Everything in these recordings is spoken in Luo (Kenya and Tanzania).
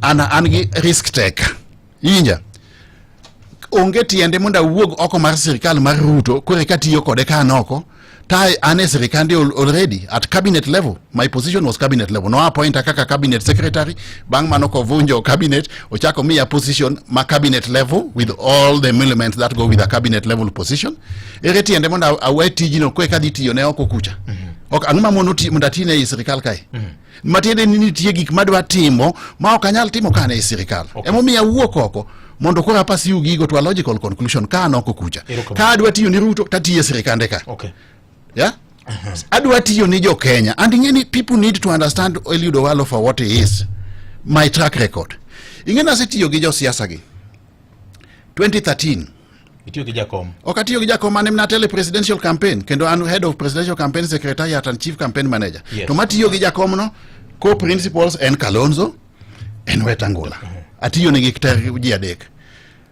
an an gi risk take inja onge tiende mondo awuog oko mar sirikal mar ruto kore katiyo kode ka an oko ta an e sirikande already at cabinet level my position was cabinet level no appointa kaka cabinet secretary bang' mano kovunjo cabinet ochako miya position ma cabinet level with all the elements that go with a cabinet level position ere tiende mondo awe tijno kwe kadhi tiyo ne oko kucha mm -hmm. ok ang'o ma mondo ati ne i sirikal kae mm -hmm. matiende ni nitie gik madwa timo ma ok anyal timo ka an e sirikal okay. emomiyo awuok oko mondo koro apas yu gigo to a logical conclusion ka an oko kucha ka adwa tiyo ni ruto tatiyo e sirikande ka okay. yeah? adwa tiyo ni jokenya and ing'e ni people need to understand Eliud Owalo for what he is my track record ing'e nasetiyo gi josiasa gi 2013 Itiyo gi jakom. Ok atiyo gi jakom an emna tele presidential campaign kendo an head of presidential campaign secretariat and chief campaign manager. Yes. To matiyo gi jakom no co principals en Kalonzo en Wetangula. Uh-huh. Atiyo ne gi ji adek.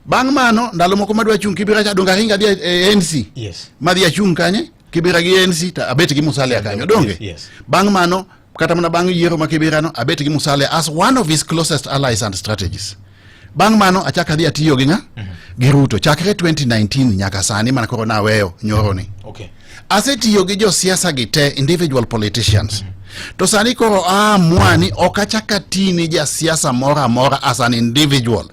Bang' mano ndalo moko madwa chung' Kibira cha donga hinga dhi e ANC. Yes. Madhi achung' kanye? Kibira gi ANC ta abet gi Musalia kanyo donge? Yes. Bang' mano kata mana bang' yiero ma kibirano abet gi musalia as one of his closest allies and strategies bang' mano achak adhi atiyo gi ng'a mhm. gi ruto chakre 2019 nyaka sani mana koro naweyo nyoroni okay. asetiyo gi josiasa gi te individual politicians mm -hmm. to sani koro aamua ni ok achak ati ni jasiasa moro amora as an individual Adu